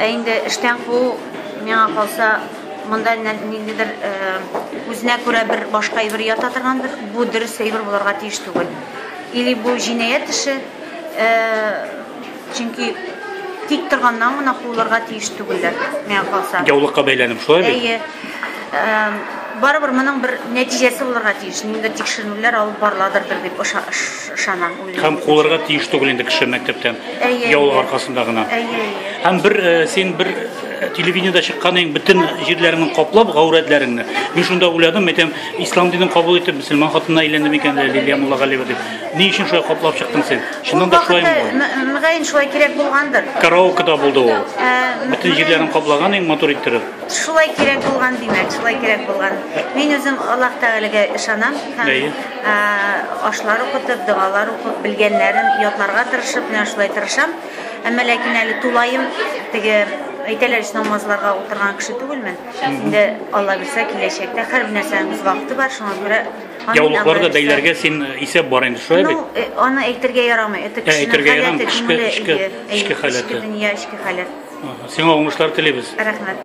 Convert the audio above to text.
Ә инде эштән куу, миңа калса, монда ниндидер үзенә күрә бер башка әйбер ята торгандыр, бу дөрес әйбер булырга тиеш түгел. Или бу җинаять эше, чөнки тик торганнан гына куылырга тиеш түгелләр, миңа калса. Яулыкка бәйләнеп, шулай бит? Әйе. Барыбер моның бер нәтиҗәсе булырга тиеш, ниндидер тикшеренүләр алып барыладырдыр дип Ышанам, үлем. Һәм кулырга тиеш түгел инде кеше мәктәптән. Яулык аркасында гына. Һәм бер э, син бер э, телевидениедә чыкканың бөтен җирләреңне каплап гаурәтләреңне. Мин шунда уйладым, әйтәм, ислам динен кабул итеп, мөселман хатынына әйләндем икән лә Лилия Муллагалиева дип. Ни өчен шулай каплап чыктың син? Шуннан да шулай булды. Мөгаен шулай кирәк булгандыр. Караокеда булды ул. Э, бөтен җирләрен каплаган иң матур иттереп. Шулай кирәк булган, димәк, шулай кирәк булган. Мин үзем Аллаһ Тәгаләгә ышанам һәм Ашлар укытып, догалар укып, белгәннәрен ятларга тырышып, менә шулай тырышам. Әмма ләкин әле тулаем теге әйтәләр ич намазларга утырган кеше түгелмен. Инде Алла бирсә киләчәктә һәр нәрсәнең үз вакыты бар, шуңа күрә Яулыкларда бәйләргә син э, исәп бар инде, шулай бит? Ну, э, аны әйтергә ярамый. Это э, кешенең әйтергә ярамый, эчке, эчке, эчке халәте. Эчке дөнья, эчке халәт. Сиңа уңышлар телибез. Рәхмәт.